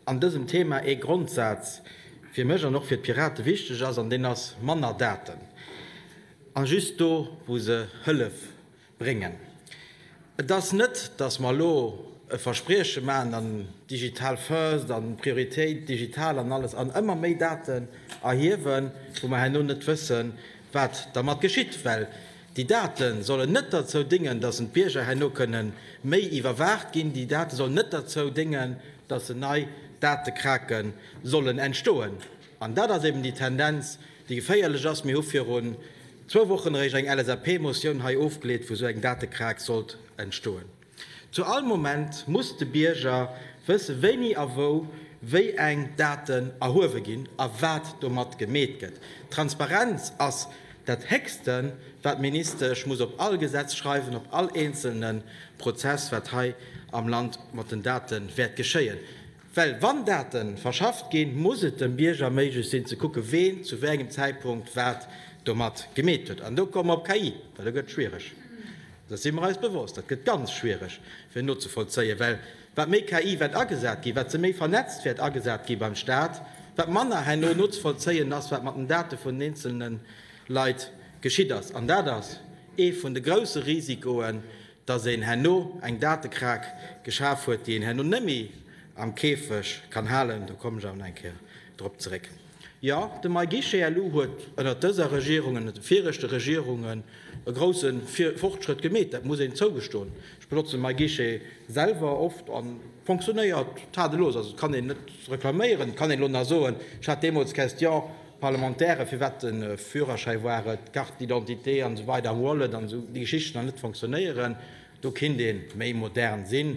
an dësem Thema ee Grondsaz fir mech an och fir d'Pirate wichteg ass, an deen ass, manner Daten a just do, wou se Hëllef bréngen. Et ass net, datt mer elo e Versprieche maachen an Digital first an Prioritéit digital an alles an ëmmer méi Daten erhiewen, wou mer herno net wëssen, wat dermat geschitt, well Déi Date sollen net derzou déngen, dass en d'Bierger herno kënne méi iwwerwaacht ginn. Déi Date sollen net derzou déngen, dass en nei Datekrake sollen entstoen. An dat ass eben déi Tendenz, déi geféierlech ass. Mir hu virun zwou Wochen eréischt eng LSAP-Motioun hei ofgeleet, wou esou eng Datekrak sollt entstoen. Zu all Moment muss de Bierger wësse wéini a wou wéi eng Daten erhuewe ginn a wat domat gemeet gëtt. Transparenz ass dat héchste wat d'Ministesch muss op all Gesetz schreiwen, op all eenzelne Prozess wat hei am Land mat den Date wäert geschéien. Well wann Date verschafft ginn, muss et dem Bierger méiglech sinn ze kucken, ween zu wéi engem Zäitpunkt wat domat gemeet huet. An do komme mer op KI, well do gëtt et schwiereg. Dessen si mer eis bewosst. Dat gëtt ganz schwiereg fir nozevollzéien, well wat méi KI wäert agesat ginn, wat se méi vernetzt wäert agesat ginn beim Staat, wat manner herno nozevollzéien ass, wat mat den Date vun den eenzelne Leit geschitt ass. An dat ass ee vun de grouse Risikoen, dass een herno eng Datekraak geschaf huet, déi een herno net méi am Käfeg kann halen, do kommen ech awer nach eng Kéier drop zeréck. Jo, de MyGuichetlou huet ënnert dëser Regierung, ënnert de viregte Regierungen e grouse Fortschrëtt gemeet, dat muss een zougestoen. Ech benotzen MyGuichet selwer oft a fonctionnéiert tadellos, also et kann een net reklaméieren. Et kann een elo nach soen, ech hat deemools d'Question, D'Parlementaire, firwat de Führerschäi, war et d'Carte d'identité an esou weider am Wallet an esou, déi Geschichten an net fonctionnéieren, do kinnt ee méi modern sinn.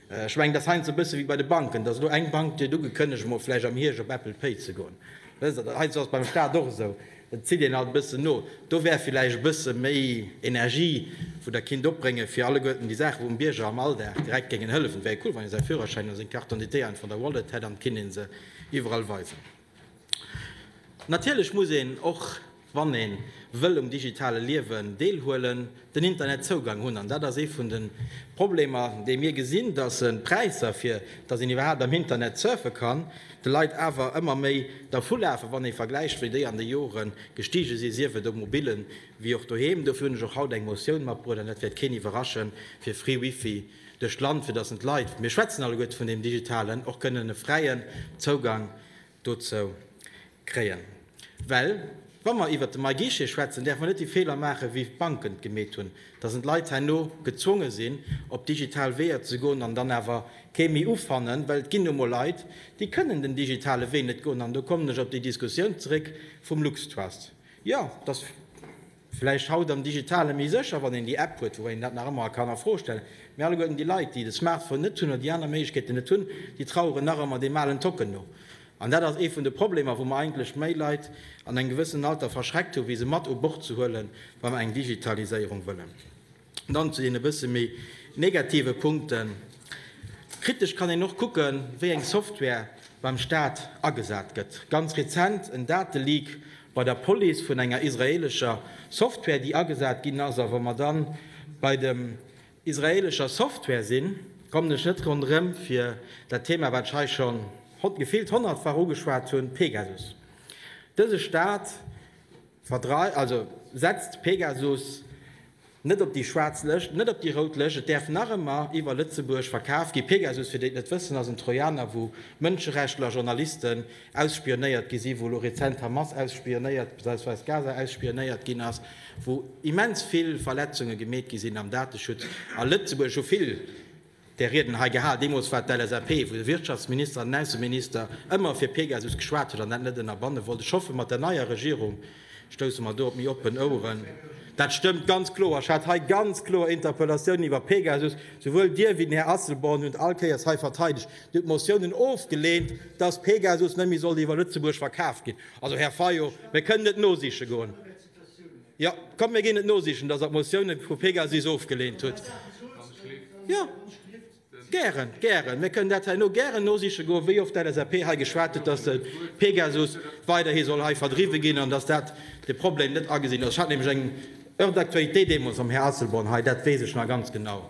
Ech mengen, et ass heiansdo e bësse wéi bei de Banken, dass elo eng Bank kritt ugekënnegt, emol vläicht am Hierscht op Apple Pay ze goen. Wësst Der, heiansdo ass et beim Staat och esou, et zitt een alt e bëssen no. Do wär vläicht e bësse méi Energie, wou Der kinnt opbréngen, fir alleguerten déi Saachen, wou dem Bierger am Alldag direkt géingen hëllefen. Et wär jo cool, wann ee säi Führerschäin oder seng Carte d'identité einfach an der Wallet hätt an et kinnt ee se iwwerall weisen. Natierlech muss een, och wann ee wëll um digitale Liewen deelhuelen, den Internetzougang hunn. An dat ass ee vun de Problemer, déi mir gesinn, datt d'Präisser, fir datt een iwwerhaapt am Internet surfe kann, de Leit awer ëmmer méi dervulafen, wann ee vergläicht, wéi déi an de Jore gestige sinn, sief et um Mobillen, wéi och doheem. Dofir hunn ech och haut eng Motioun matbruecht, an dat wäert keen iwwerraschen, fir free Wifi duerch d'Land, fir dass en d'Leit, mir schwätzen alleguerte vun deem Digitalen, och kënnen e fräien Zougang dozou kréien. Well wa mer iwwert de MyGuichet schwätzen, däerfe mer net déi Feeler maachen, wéi d'Banken et gemeet hunn, dass en d'Leit herno gezwonge sinn, op digital Weeër ze goen an dann awer kee méi ufannen. Well et ginn nu emol Leit, déi kënnen den digitale Wee net goen. An do kommen ech op déi Diskussioun zeréck vum LuxTrust. Jo, dass. Vläicht haut am Digitale méi sécher, wann een déi App huet, woubäi een dat nach ëmmer kann a Fro stellen. Mee alleguerten déi Leit, déi de Smartphone net hunn oder déi aner Méiglechkeeten net hunn, déi traueren nach ëmmer deem alen Tocken no. An dat ass ee vun de Problemer, wou mer eigentlech méi Leit an engem gewëssenen Alter verschreckt hu wéi se mat u Bord ze huelen, wa mer eng Digitaliséierung wëllen. Dann zu deene bësse méi negative Punkten. Kritesch kann een och kucken, wéi eng Software beim Staat agesat gëtt. Ganz rezent en Dateleak bei der Police vun enger israeelescher Software, déi agesat ginn ass. A wa mer dann bei dem israeelescher Software sinn, kommen ech net ronderëm fir dat Thema, wat ech hei schonn gefillt honnertfach ugeschwat hunn, Pegasus. Dëse Staat. Verdreift, also setzt Pegasus net op déi schwaarz Lëscht, net op déi rout Lëscht. Et däerf nach ëmmer iwwer Lëtzebuerg verkaf ginn. Pegasus, fir déi et net wëssen, ass en Trojaner, wou Mënscherechtler, Journalisten ausspionéiert gi sinn, wou elo rezent d'Hamas ausspionéiert bzw. Gaza ausspionéiert ginn ass, wou immens vill Verletzunge gemeet gi sinn am Dateschutz. A Lëtzebuerg hu vill där Rieden hei gehal, deemools war et d'LSAP, wou de Wirtschaftsminister an den Ausseminister ëmmer fir Pegasus geschwat huet an dat net ënnerbanne wollt. Ech hoffen, mat der neier Regierung stousse mer do op méi oppen Oueren. Dat stëmmt ganz kloer. Ech hat hei ganz kloer Interpellatiounen iwwer Pegasus. Souwuel Dir wéi den Här Asselborn hunn et all Kéiers hei verteidegt. Dir hutt Motiounen ofgeleent, dass Pegasus net méi sollt iwwer Lëtzebuerg verkaf ginn. Also, Här Fayot, mir kënnen et nosiche goen. Ja, komm, mir ginn et nosichen, dass Der d'Motioune vu PEGASUS ofgeleent hutt. Ja, gären, gären. Mir kënnen dat herno gären nosiche goen, wéi oft d'LSAP hei geschwat huet, dass de PEGASUS weiderhi soll hei verdriwwe ginn an dass dat de Problem net agesinn ass. Ech hat nämlech eng Heure d'actualité deemools mam Här Asselborn hei, dat weess ech nach ganz genau.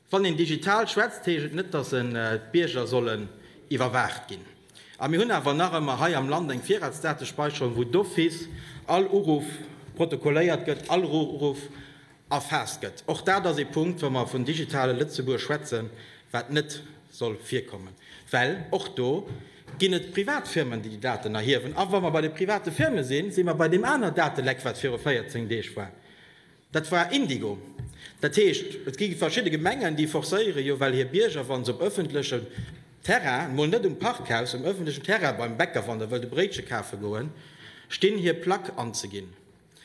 Wann een digital schwätzt, heescht et net, dass en d'Bierger sollen iwwerwaacht ginn. A mir hunn awer nach ëmmer hei am Land eng Virratsdatespäicherung, wou d'office all Uruff protokolléiert gëtt, all Uruff erfaasst gëtt. Och dat ass ee Punkt, wa mer vun digitale Lëtzebuerg schwätzen, wat net soll virkommen, well och do ginn et Privatfirmen, déi déi Daten erhiewen. A wa mer bei de private Firme sinn, si mer bei deem aner Dateleck, wat viru 14 Deeg war. Dat war Indigo. Dat heescht, et gi verschidde Gemengen, déi forcéiere jo well hir Bierger, wa se op ëffentlechem Terrain, mol net um Parkhaus, um ëffentlechen Terrain beim Bäcker, wann Der wëllt e Bréitche kafe goen, stinn, hir Plack anzeginn.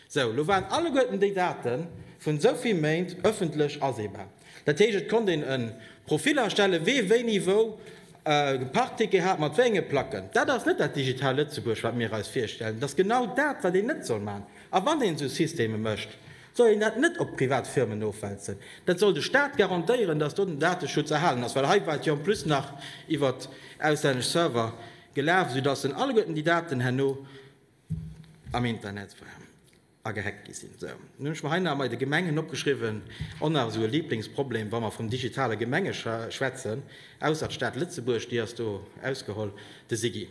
Sou, lo waren alleguerten déi Date vun esou vill Méint ëffentlech aseebar. Dat heescht, et konnt een e Profil erstellen, wee wéini wou e Parkticket hat, mat wéi enge Placken. Dat ass net dat Digital Lëtzebuerg, wat mir eis virstellen. Et ass genau dat, wat een net soll maachen. A wann een esou Systeme mécht, soll een dat net op privat Firmen ofwälzen. Dat soll de Staat garantéieren, datt do den Dateschutz erhalen ass, well hei war et jo en plus nach iwwer auslännesch Server gelaf, esoudatt en alleguerten déi Daten herno am Internet waren a gehackt gi sinn. Esou, nun hunn ech mer hei nach emei de Gemengen opgeschriwwen, och nach esou e Lieblingsproblem, wa mer vum digitale Gemenge schwätzen, ausser d'Stad Lëtzebuerg, déi ass do ausgeholl, de SIGI.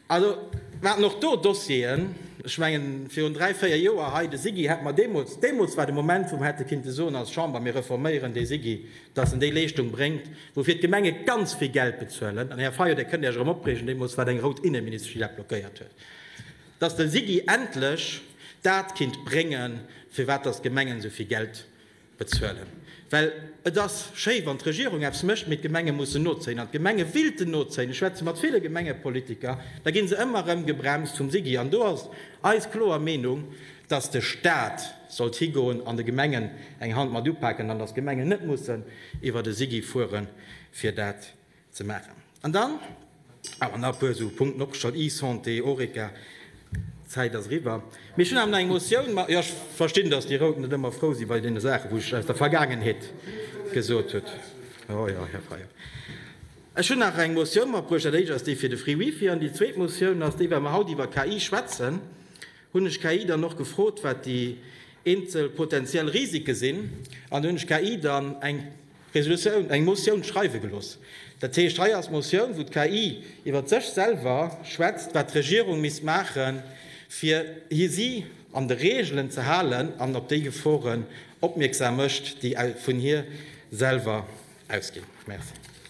Also, mer haten och do Dossieren, ech mengen, virun dräi, véier Joer hei, de SIGI hätt mer deemools, deemools war de Moment, wou mer hätte kinnte soen als Chamber, mir reforméieren dee SIGI, dass en déi Leeschtung bréngt, woufir d'Gemenge ganz vill Geld bezuelen. An, Här Fayot, Dir kënnt Iech erëm opreegen, deemools war et eng rout Inneministesch, déi dat blockéiert huet, dass de SIGI endlech dat kinnt bréngen, firwat dass d'Gemengen esou vill Geld, bezuelen, well et ass schéi wann d'Regierung eppes mécht, mee d'Gemenge mussen nozéien an d'Gemenge willten nozéien. Ech schwätze mat ville Gemengepolitiker, da gi se ëmmer erëm gebremst vum SIGI an do ass eis kloer Meenung, datt de Staat sollt higoen an de Gemengen eng Hand mat upaken an datt d'Gemengen net mussen iwwert e SIGI fuere fir dat ze maachen. An dann awer nach e puer esou Punkten opgeschalt, eSanté, Horeca. D'Zäit ass eriwwer. Mee ech hunn awer nach eng Motioun. Ma jo, ech verstinn, datt déi Rout net ëmmer frou si bei deene Saachen, wou ech aus der Vergaangenheet gesot hutt. Jo, jo, Här Fayot. Ech hunn nach eng Motioun matbruecht. Dat éischt ass déi fir de Free Wifi. An déi zweet Motioun ass déi, well mer haut iwwer KI schwätzen, hunn ech KI dann och gefrot, wat déi eenzel potentiell Risike sinn. An do hunn ech KI dann eng. Resolutioun, eng Motioun schreiwe gelooss. Dat heescht, hei ass d'Motioun, wou d'KI iwwert sech selwer schwätzt, wat d'Regierung misst maache fir si an de Reegelen ze halen an op déi Geforen opmierksam mécht, déi vun hir selwer ausginn. Merci.